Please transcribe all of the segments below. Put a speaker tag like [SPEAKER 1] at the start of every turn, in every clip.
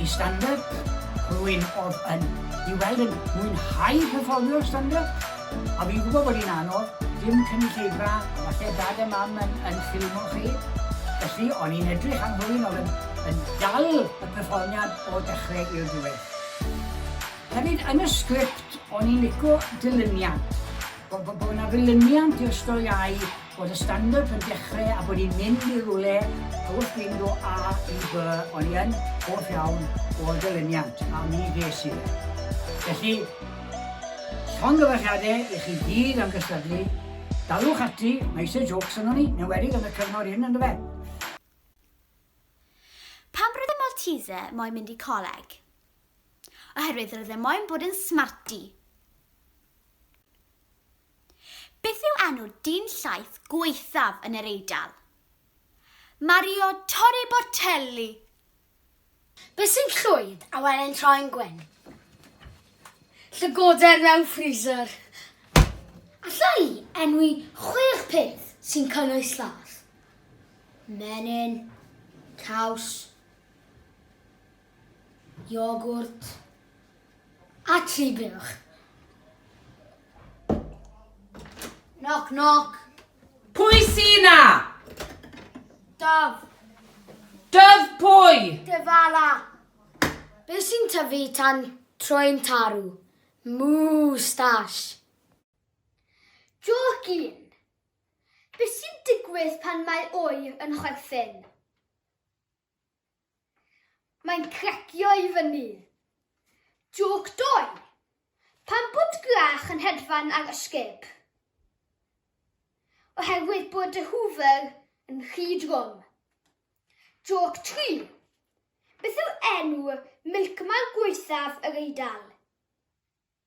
[SPEAKER 1] i stand up, rwy'n of yn i weld yn mwynhau perfformio stand up, a fi'n gwybod bod hi'n anodd, dim cynulleidfa, a falle dad a mam yn, yn ffilmo chi, felly o'n i'n edrych am rwy'n of yn, yn dal y perfformiad o dechrau i'r diwedd. Hefyd, yn y sgript, o'n i'n lico dilyniant, bod bo, bo na ddilyniant i'r storïau Bod y standard yn dechre a bod ni'n mynd i rwle wrth fynd o A i B o'n i yn hoff iawn o'r ddilyniant a mi ges i fe. Felly, llongyfarchiade i chi gyd am gystadlu, dalwch ati, mae eisiau jôcs yno ni, yn enwedig yn y cyfnod hyn ynddo fe. Pam roedd y Maltese moyn mynd i coleg? Oherwydd roedd e moyn bod yn smarty. Beth yw enw dyn llaeth gwaethaf yn yr Eidal? Mario Torri Bortelli! Beth sy'n llwyd a wele'n troi'n gwyn? Llygoden mewn freezer! Alla i enwi chwech peth sy'n cynnwys llaeth? Menyn, caws, iogwrt a tri buwch. Knock, knock. Pwy sy'n na? Daf. Dyf pwy? Dyfala. Be sy'n tyfu tan troi'n tarw? Moustache. Joc un. Be sy'n digwydd pan mae oer yn chwerthin? Mae'n cracio i fyny. Jôc doi! Pam bod gwlach yn hedfan ar ysgub? Oherwydd bod y Hoover yn rhy drwm. Jôc tri! Beth yw enw milkman gwaethaf yr Eidal?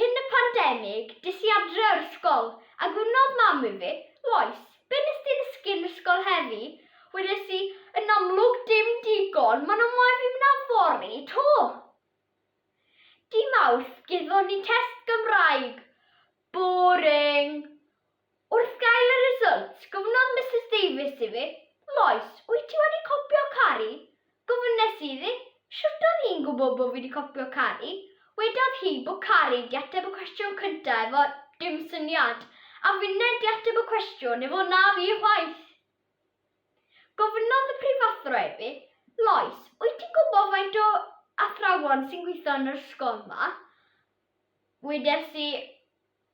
[SPEAKER 1] Cyn y pandemig, des i adre o'r ysgol, a gwrnodd mam i fi, Lois, be nes di ddysgu yn ysgol heddi? Wedes i, Yn amlwg dim digon, maen nhw moyn fi mynd am fory 'to! Dy Mawrth, gethon ni test Gymraeg. Boring! Wrth gael y result, gofynnodd Misus Davies i fi, Lois, wyt ti wedi copio Cari? Gofynes i iddi, Shwt oedd hi'n gwybod bod fi wedi copio Cari? Wedodd hi bod Cari 'di ateb y cwestiwn cynta' efo 'dim syniad', a finne 'di ateb y cwestiwn efo 'na fi chwaith'. Gofynnodd y prifathro i fi, Lois, wyt ti'n gwybod faint o athrawon sy'n gweithio yn yr ysgol 'ma? Wedes i,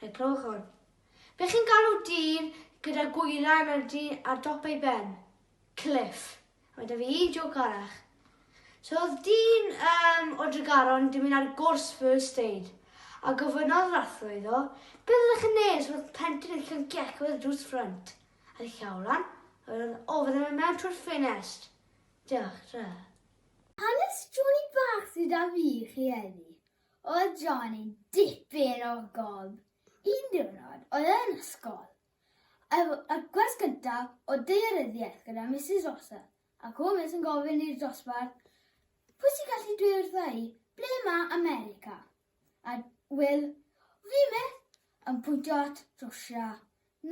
[SPEAKER 1] Fe glywch hwn. Be chi'n galw dyn gyda gwylan ar, ar dop ei ben? Cliff. A mae da fi un joc arach. So oedd dyn um, o Dregaron di mynd ar gwrs first aid a gofynnodd yr athro iddo, beth ydych chi'n neud os oedd plentyn yn cael gec oedd drws ffrant? A di llaw lan, oedd o fydde fe mewn trwy'r ffinest. Diolch, tra. Hanes Johnny Bach sydd da fi chi heddi. Oedd John yn dipyn o gob. Un diwrnod, oedd e yn ysgol. Efo y gwers gyntaf o daearyddiaeth gyda Misus Rosa, ac o Miss yn gofyn i'r dosbarth, Pwy sy'n gallu dweud wrtha i, ble mae America? A Will, Fi Miss, yn pwyntio at Rwsia.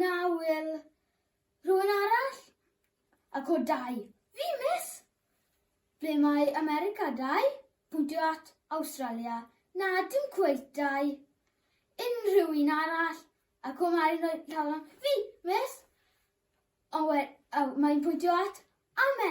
[SPEAKER 1] Na, Will. Rhywun arall? Ac o dau, Fi Miss, Ble mae America dau? Bwtio at Awstralia? Na, dim cweit dau. Unrhyw un arall? A co Mari yn rhoi llaw lan. Fi, miss! Ond we- o, mae'n pwyntio at America.